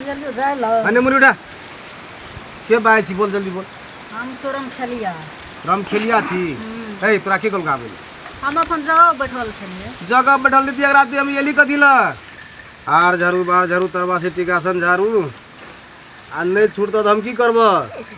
अने मुरुडा के बाय छी बोल जल्दी बोल हम तो रमखेलिया रमखेलिया छी ए तोरा के गोल गाबे हम अपन जगह बैठल छलिए जगह बैठल नीति अगर आदमी हम एली कथी ल आर झाड़ू बार झाड़ू तरवा से टिकासन झाड़ू आ नहीं छूटत हम की करब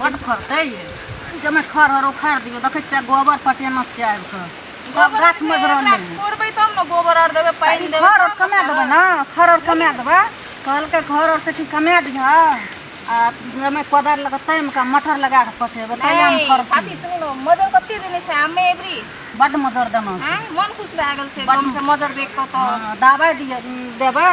बड फड़तै ये जमे खर हर उखाड़ दियो देखै छियै गोबर पटेना छियै आबि कऽ सब गाछ मजरल नहि तोड़बै तब ने गोबर आर देबै पानि देबै घर आर कमा देबै ने घर आर कमा देबै कहलकै घर आर से की कमा दिह आ जमे कोदारि लऽ कऽ तामि कऽ मटर लगा कऽ पटेबै तैया हम घर साथी सुनो मजर कते देने छै आमे एबरी बड मजर देना छै मन खुश भए गेल छै एकदम से मजर देख कऽ तऽ दबाइ दिय देबै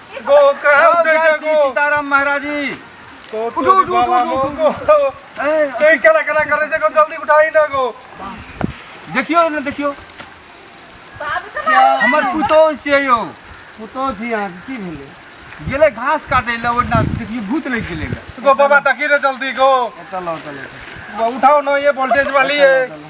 गो कहब जय जय गो सीताराम महाराज जी उठो उठो उठो उठो ए केला केला करे देखो जल्दी उठाई ना गो देखियो ना देखियो हमर पुतो छियै यो पुतो छी अहाँ की भेलै गेलै घास काटै लए ओहिना देखियो भूत लागि गेलै गो बाबा तकी रे जल्दी गो चलो चलो उठाओ ना ये वोल्टेज वाली है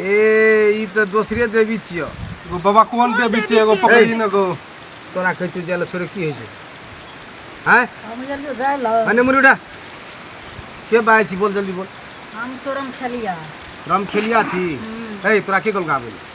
ए ई तो दोसरे देवी छियो एगो बाबा कोन के बीच एगो पकड़ी न गो तोरा कहि तू जाले छोरे की होइ छै हैं हम जल्दी जाए लो अने मुरुडा के बाय छी बोल जल्दी बोल हम चोरम खेलिया राम खेलिया छी ए तोरा के गल गाबे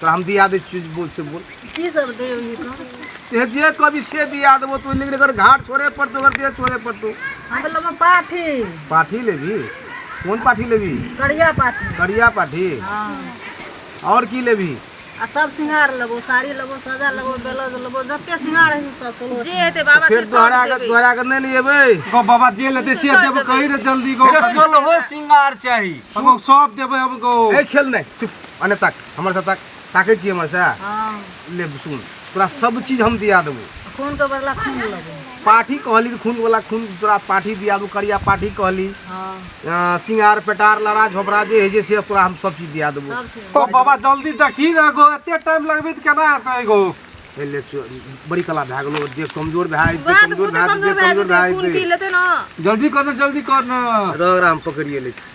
तो हम दिया दे चीज बोल से बोल की सब दे ई का ये जे कभी से दिया देबो तो लेकिन अगर घाट छोड़े पर तो अगर दे छोड़े पर तो हम लोग पाथी पाठी लेबी कौन पाठी लेबी करिया पाथी करिया पाठी हाँ और की लेबी आ सब सिंगार लेबो साड़ी लेबो सजा लेबो ब्लाउज लेबो जते सिंगार है सब तो जे हेते बाबा फिर तोहरा अगर तोहरा अगर नहीं लेबे गो बाबा जे लेते से देबो कही रे जल्दी गो सोलहो सिंगार चाहिए हम सब देबे हम गो ए खेल नहीं चुप अने तक हमर से तक ताके छी हमर से हाँ ले सुन तोरा सब चीज हम दिया देबो खून के बदला खून लगो पाठी कहली तो खून वाला खून तोरा पाठी दिया देबो करिया पाठी कहली हाँ अ, सिंगार पेटार लड़ा झोपड़ा जे है जे से तोरा हम सब चीज दिया देबो सब चीज ओ बाबा जल्दी देखी ना गो एते टाइम लगबे त केना हेतै गो ए, ले चो- बड़ी कला भए गेलो देह कमजोर भए जेतै, वएह तऽ कमजोर खुदे भए जेतै, कमजोर भए कमजोर जेतै भए खून पी जेतै। लेतै ने जल्दी कर ना जल्दी कर ना रग राम पकड़िए ले छी।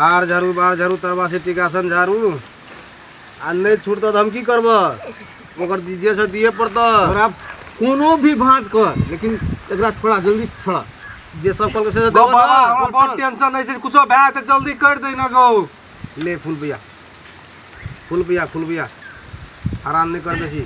आर झाड़ू बार झाड़ू तरबा से टिकासन झाड़ू आ नहीं छूटत तो हम की करब ओकर दीजिए से दिए पड़त और आप कोनो भी भांज कर लेकिन एकरा थोड़ा जल्दी थोड़ा जे सब कल के से देबो बाबा ना हमरा बहुत टेंशन है से कुछो भए त जल्दी कर दे ना गौ ले फूल भैया फूल भैया फूल भैया आराम नहीं कर बेसी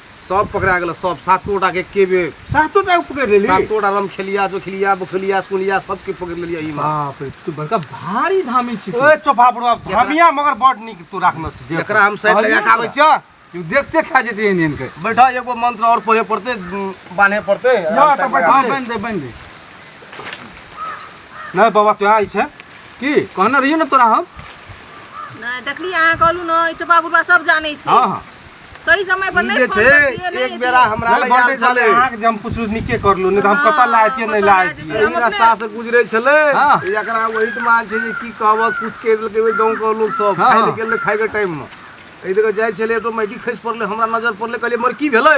सब पकड़ा गेल सब सातो टा के एके बेर सातो टा पकड़ लेली सातो टा रम खेलिया जो खेलिया बखलिया सुनिया सबके पकड़ लेलिया ई माँ बाप रे तू बड़का भारी धामी छी ओए चोपा बुढ़ो अब धमिया मगर बड़ नीक तू राखने छी जे एकरा हम साइड लगा के आबै छियो तू देखते खा जेते एहन एहन के बैठा एगो मंत्र और पढ़े पड़ते उम, बान्हे पड़ते या त बैठा हां बन दे बन दे नहीं बाबा तू आई छे की कहने रहियो ना तोरा हम नहीं देखली अहाँ कहलू ना ई चोपा बुढ़वा सब जानै छै हां हां सही समय पर ई नहीं जे फोन छै करतिए, नहीं एक बेरा हमरा लग आयल बटे छलै छले अहाँ के जे हम कुछ नीके करलू नहीं तो हम कतऽ लाए छियै नहीं लाए छियै एहि रास्ता से गुजरे छलै हाँ। ई एकरा वहीट मान छै जे की कहबह कुछ कहि देलकै ओहि गाँव के लोग सब हाँ, खाय हाँ। ले गेलै खाय के टाइम मे एहि जगह जाइ छलै तो मैगी खसि पड़लै हमरा नजर पड़लै कहलियै मर की भेलै